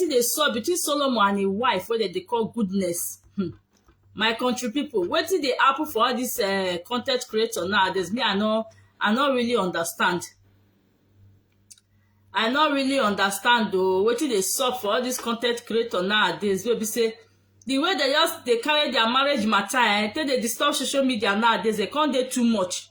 wetin dey sup between solomon and im wife wey dem dey call goodness hmm. my country people wetin dey happen for all this uh, content creator nowadays me i no i no really understand i no really understand o wetin dey sup for all this content creator nowadays wey be say the way they just dey carry their marriage matter eh take dey disturb social media nowadays dey come dey too much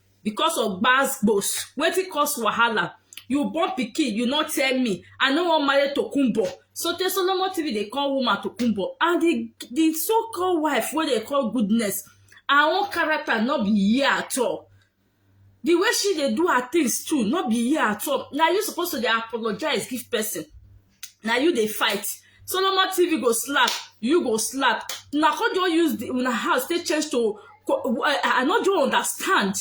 because of gbas gbos wetin cause wahala you born pikin you no tell me i no wan marry tokunbo so tey solomon tv dey call woman tokunbo and the the so called wife wey dey call goodness her own character no be here at all the way she dey do her things too no be here at all na you suppose to dey apologize give person na you dey fight solomon tv go slap you go slap una come just use the una house take change to i i no just understand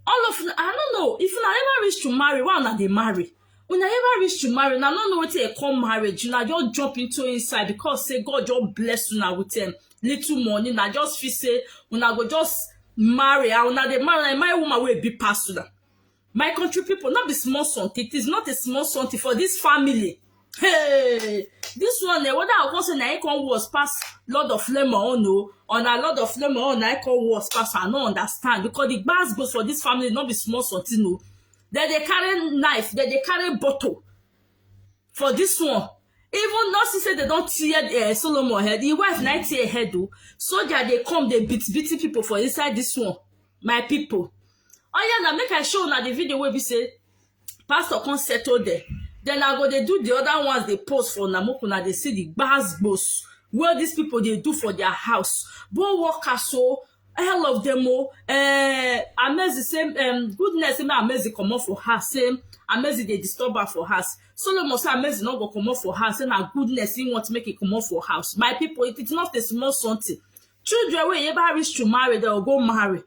all of una i no know if una ever reach to marry why una dey marry una ever reach to marry una no know wetin dey come marriage una just jump into inside because say god just bless una with um, little money una just feel say una go just marry and una dey marry una marry woman wey big pass una My country people, not be small something. It is not a small something for this family. Hey, this one, eh, whether I come say na I come worse pass Lord of Lemon, oh no, on a Lord of Lemon, oh, na I come worse pass, I no understand because the bars goes for this family, not be small something, no. Then they carry knife, then they carry bottle. for this one even not see say dem don tear uh, solomon head him wife na tear head o soldier dey come dey beat beating people for inside this one my people oya na make i show una the video wey be say pastor come settle there then i go dey do the other ones dey post for una make una dey see the gbas gbos wey these people dey do for their house both workers o all of them o eh, amezi say um, goodness say make amezi comot for house say amezi dey disturb am for house solomon say amezi no go comot for house say na goodness he want make he comot for house my people it is not a small something children wey ever reach to marry dem go go marry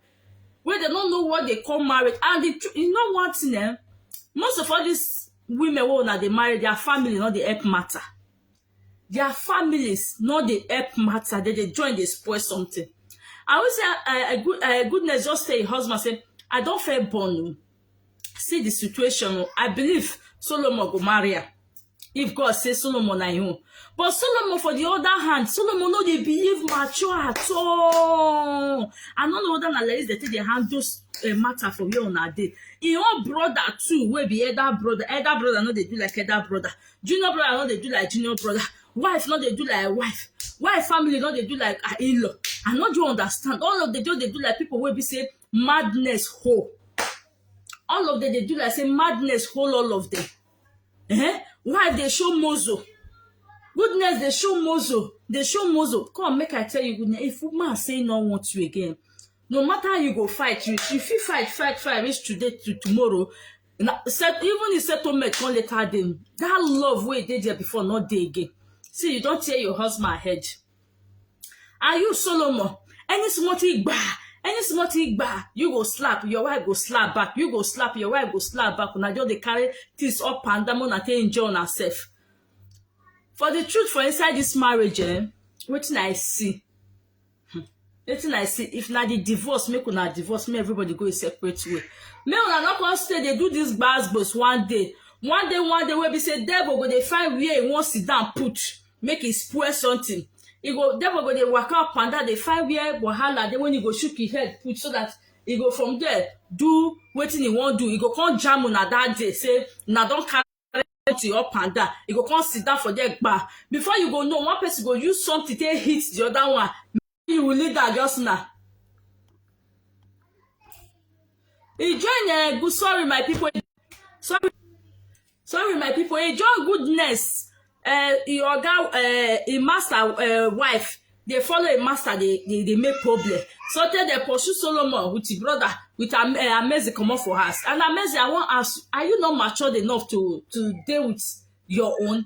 wey dem no know what dey call marriage and the tru- you know one thing eh most of all these women wey una dey marry their family no dey help matter their families no dey help matter dem dey join dey spoil something i always say uh, good, uh, goodness just say im husband say i don fair born o see the situation o i believe solomon go marry her if god say solomon na im own but solomon for the other hand solomon no dey behave mature at all i no know whether na like this dem take dey handle uh, matter for where una dey im own brother too wey be elder brother elder brother no dey do like elder brother junior brother no dey do like junior brother wife no dey do like wife wife family no dey do like her in-law i no do understand all of them just dey do like people wey be say madness whole all of them dey do like say madness whole all of them eh wife dey show mozo goodness dey show mozo dey show mozo come make i tell you goodness if woman say no want you again no matter how you go fight you you fit fight fight fight reach today to tomorrow na set even the settlement come later dey that love wey dey there before no dey again see you don tear your husband head and you solomon any small thing gba any small thing gba you go slap your wife go slap back you go slap your wife go slap back una just dey carry things up and down una take enjoy una sef for the truth for inside this marriage eh wetin i see Hmm. wetin i see if na the divorce make una divorce make everybody go a separate way make una no come stay dey do this gbasgbos one day one day one day wey be say devil go dey find where he wan sit down put make he spoil something he go devil go dey waka up and down dey find where wahala dey when he go shook him head put so that he go from there do wetin he wan do he go come jam una that day say una don carry to you up and down you go come sit down for there gba before you go know one person go use something take hit the other one you will lead that just now e join uh, good sorry my people sorry sorry my people e join goodness uh, e oga uh, e master uh, wife dey follow im master dey dey dey make problem sotey dem pursue solomon with im brother with Am- eh, amezi comot for house and amezi i wan ask you are you not matured enough to to dey with your own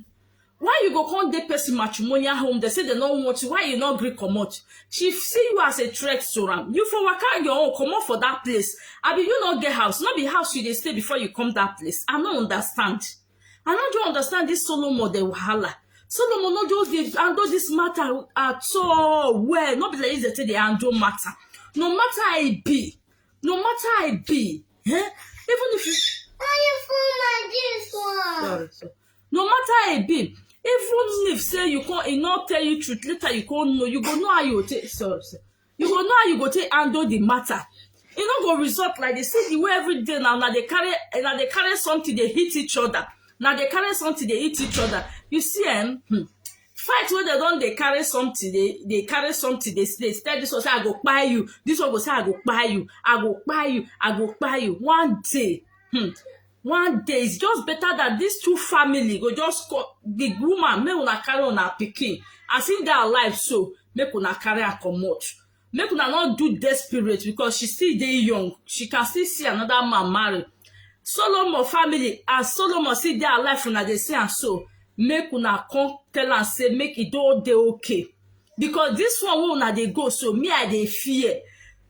why you go come dey person matrimonial home dey say dem no want you why you no gree comot she see you as a threat to am you for waka your own comot for that place abi you no get house no be house you dey stay before you come that place i no understand I no just understand this Solomon the wahala. Solomon no just dey handle this matter at all well. No be like this dey take dey handle matter. No matter how e be, no matter how e be, eh? even if you sorry, sorry. no matter how e be, even if say you come e no tell you truth later you come know you go know how you go take sorry, sorry. you go know how you go take handle the matter e no go result like dey see the way every day now na dey carry na dey carry something dey hit each other na dey carry something dey hit each other you see em hmm, fight wey dem don dey carry something dey dey carry something dey dey tell this one say i go kpai you this one go say i go kpai you i go kpai you i go kpai you one day hmm, one day it's just better that these two family go just call the woman make una carry una pikin as im dey alive so make una carry her comot make una no do desperate because she still dey young she can still see another man marry solomon family as solomon still dey alive una dey see am so make una come tell am say make e don dey okay because this one wey una dey go so me i dey fear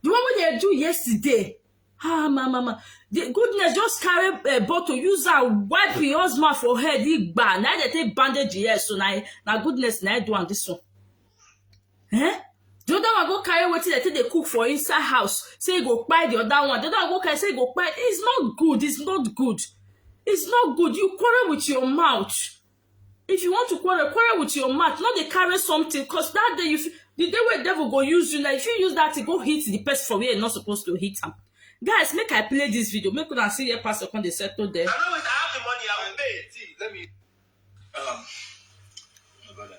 the one wey dem do yesterday ah ma ma ma the goodness just carry uh, bottle use am wipe him husband for head he gba na dey take bandage him head so na na goodness na do am this one eh the other one go carry wetin dey take dey cook for inside house say he go kpai the other one the other one go carry say he go kpai it's not good it's not good it's not good you quarrel with your mouth if you want to quarrel quarrel with your mouth no dey carry something cause that day you fit the day wey devil go use you like if you use that thing go hit the person for where you no suppose to hit am guys make i play this video make una see where pastor come dey settle there. I know it. I have the money. I will pay. See, let me. Um, my brother.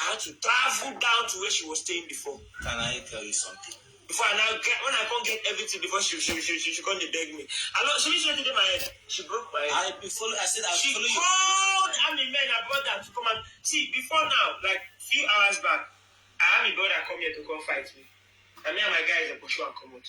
I had to travel down to where she was staying before. Can I tell you something? Before I now get, when I can't get everything before she she she she, she come dey beg me. I know she she did my head. She broke my head. I be follow. I said I she follow you. called army men and brother to come and see before now, like few hours back, I had my brother come here to come fight me. And me and my guys are pursue and come out.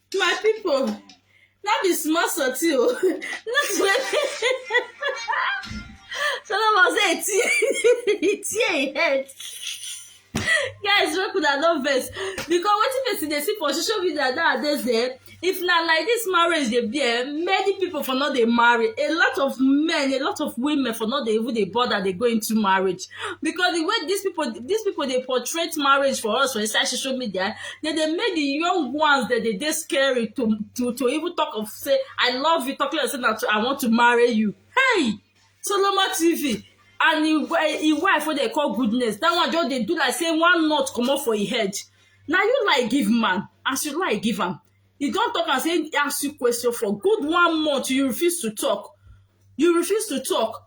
my people no be small sotty o no solomon say e tear e tear im head guys make una no vex because wetin person dey see for social media nowadays eh if na like this marriage dey be eh many people for no dey marry a lot of men a lot of women for no dey even dey bother dey go into marriage because the way these people these people dey portray marriage for us for inside social media they dey make the young ones that they dey scary to to to even talk of say i love you talking like say na i want to marry you hey solomon tv and him him wife wey dey call goodness that one just dey do like say one nut comot for him head na you lie give man as you lie give am he don talk am say he ask you question for good one month you refuse to talk you refuse to talk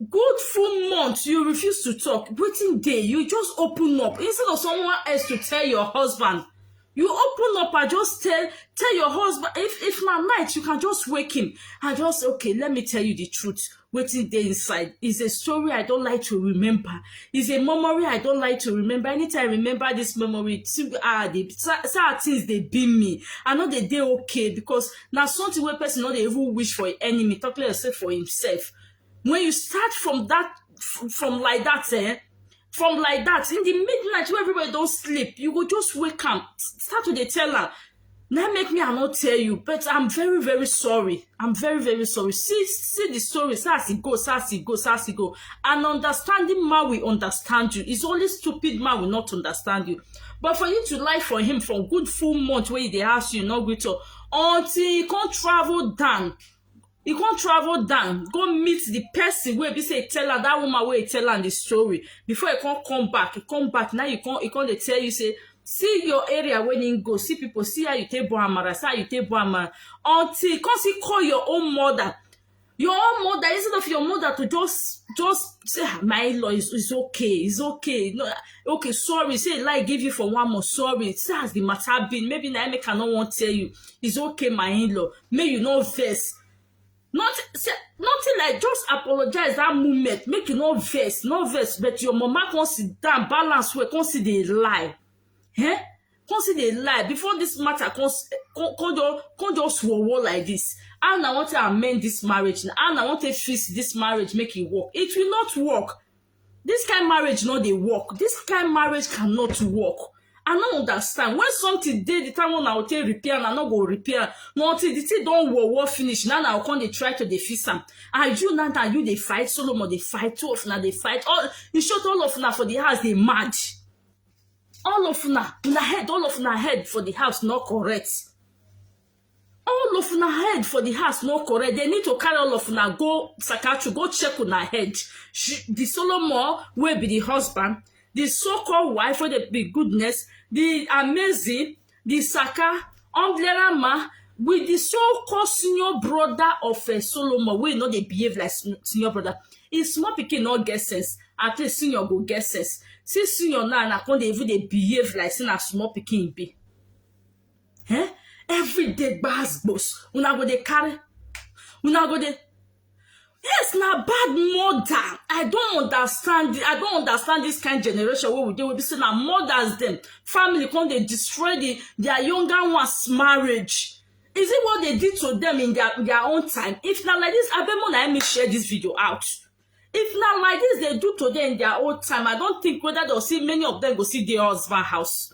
good full month you refuse to talk wetin dey you just open up instead of someone else to tell your husband you open up and just tell tell your husband if if na night you can just wake him and just say okay let me tell you the truth wetin dey inside is a story i don like to remember is a memory i don like to remember anytime i remember this memory too ah the sad things dey beam me i no dey dey okay because na something wey person no dey even wish for im enemy talk less say for himself when you start from that from like that eh from like that in the midnight wey everybody don sleep you go just wake am start to dey tell am na make me i no tell you but i'm very very sorry i'm very very sorry see see the story see as e go see as e go see as e go an understanding man will understand you it's only stupid man will not understand you but for you to lie for him for good full month wey he dey ask you no gree talk until he come travel down he come travel down go meet the person wey be say he tell am that woman wey he tell am the story before he come come back he come back now he come he come dey tell you say see your area wey he go see people see how you take born amara see how you take born amara until he come still call your own mother your own mother instead of your mother to just just say ah, my law is, is okay it's okay no okay sorry say lie give you for one more sorry say as the matter been maybe na make i no wan tell you it's okay my in-law may you no vex not say nothing like just apologize that moment make you no vex no vex but your mama come sit down balance well come see the lie eh come see dey lie before this matter come s- come come just come just war war like this how na wan take amend this marriage na how na wan take fix this marriage make e work it will not work this kind marriage no dey work this kind marriage cannot work i no understand when something dey the time wey una go take repair am una no go repair am na until the thing don war war finish na una go come dey try to dey fix am and you na na you dey fight solomon dey fight two of una dey fight all in short all of una for the house dey mad all of una una head all of una head for the house no correct all of una head for the house no correct they need to carry all of una go psychiatry go check una head she, the solomon wey be the husband the so-called wife wey dey be goodness the amazing di saka omdlera ma with di so called senior brother of eh, solomon wey no dey behave like sen- senior brother im small pikin no get sense at least senior go get sense see senior now na come dey even dey behave like say na small pikin im be eh every day gbas gbos una go dey carry una go dey yes na bad mother i don understand i don understand this kind generation wey we dey wey be say na mothers dem family come dey destroy the their younger ones marriage is it what they did to them in their their own time if na like this abeg mo na me share this video out if na like this they do to them in their own time i don think whether they see many of them go see their husband house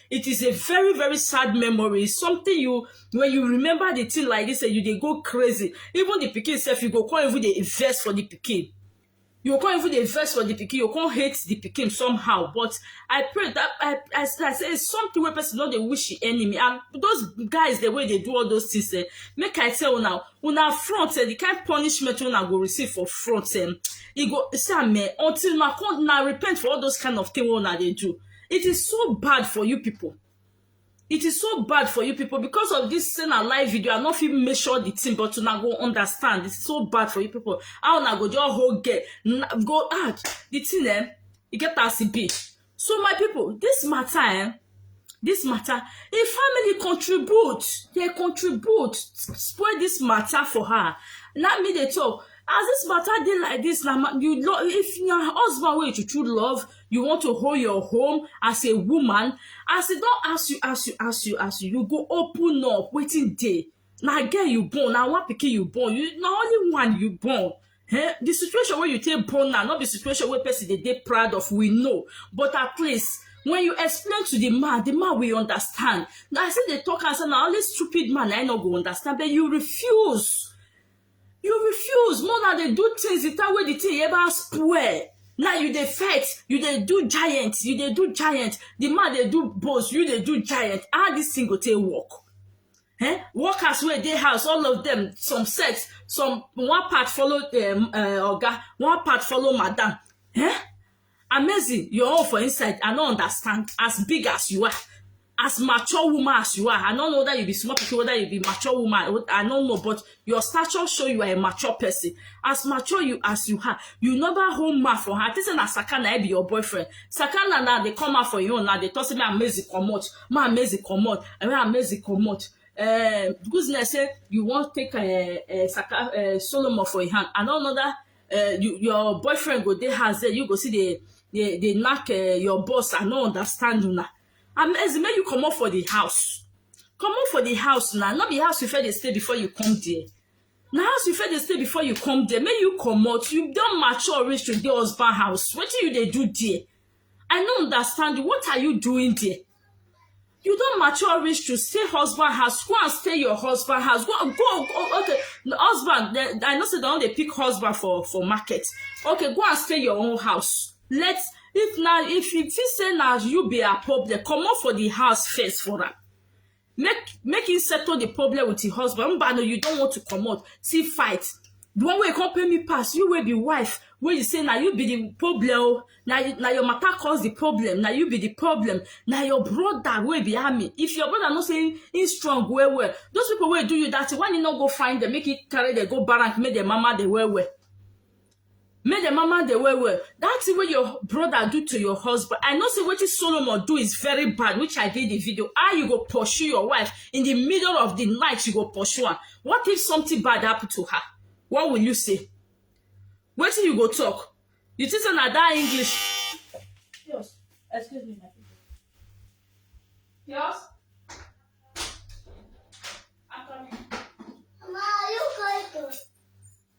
it is a very very sad memory it's something you when you remember the thing like this and eh, you dey go crazy even the pikin sef you go come even dey invest for the pikin you come even dey vex for the pikin you come hate the pikin somehow but i pray that i i, I say something wey person no dey wish the enemy and those guys the way they do all those things eh, make i tell una una front eh, the kind punishment una go receive for front eh, e go see am eh, until una come una repent for all those kind of thing wey una dey do It is so bad for you people. It is so bad for you people because of this send a live video. I not fit measure the thing, but una go understand. It's so bad for you people. How una go just whole get na- go ah the thing eh, e get as e be. So my people, this matter eh, this matter, a family contribute, they contribute, spoil this matter for her. Now me they talk. As this matter dey like this, na ma- you love if your husband wey you true love, you want to hold your home as a woman as e don ask you ask you ask you ask you you go open up wetin dey na girl you born na one pikin you born you na only one you born eh the situation wey you take born now no be situation wey person dey dey proud of we know but at least when you explain to the man the man will understand na i still dey talk am say na only stupid man na i no go understand but you refuse you refuse more na dey do things the time wey the thing ever spoil now you dey fight you dey do giant you dey do giant the man dey do boss you dey do giant how this thing go take work eh workers wey dey house all of them some set some one part follow um, uh, oga one part follow madam eh amazing your own for inside i no understand as big as you are as mature woman as you are i no know whether you be small pikin whether you be mature woman i no know but your stature show you are a mature person as mature you as you are you never hold man for hand this na sakana be your boyfriend sakana na dey come out for your own na dey talk say man mezi comot man mezi comot man mezi comot uh, goodness say you wan take uh, uh, Saka, uh, solomon for your hand i no know that uh, you, your boyfriend go dey house there you go see dey dey dey knack uh, your boss i no understand una and as make you comot for the house comot for the house na no be house you fit dey stay before you come there na house you fit dey stay before you come there make you comot you don mature reach to dey husband house wetin you dey do there i no understand you what are you doing there you don mature reach to stay husband house go and stay your husband house go go, go okay husband they, i know say they don dey pick husband for for market okay go and stay your own house let if na if you think say na you be her problem comot for the house first for am make make him settle the problem with him husband mba no you don want to comot see fight the one wey come pay me pass you wey be wife wey you say na you be the problem o na you- na your matter cause the problem na you be the problem na your brother wey be army if your brother know say him strong well well those people wey do you that thing why you no go find them make you carry them go barrack make them mama them well well make the mama dey well well that thing wey your brother do to your husband i know say wetin solomon do is very bad which i did the video how you go pursue your wife in the middle of the night you go pursue am what if something bad happen to her what will you say wetin you go talk you think say na that english Yes. Excuse me, my people. Yes. I'm coming. Ma, are you going to?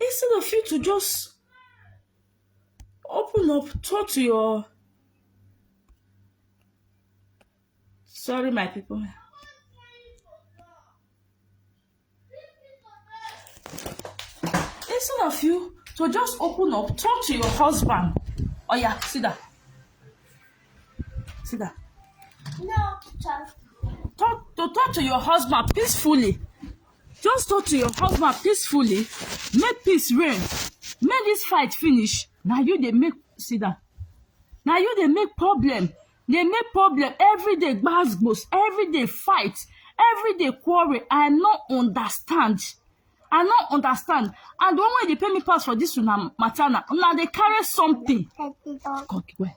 instead of you to just open up talk to your sorry my people instead of you to just open up talk to your husband oh yeah sit down sit down No, child. talk to talk to your husband peacefully Just talk to your husband peacefully, make peace reign, make this fight finish. Now you they make see that. Now you they make problem, they make problem every day. Gbasgbos, every day fight, every day quarrel. I not understand. I not understand. And the one way they pay me pass for this una matter now, una they carry something. Come, where?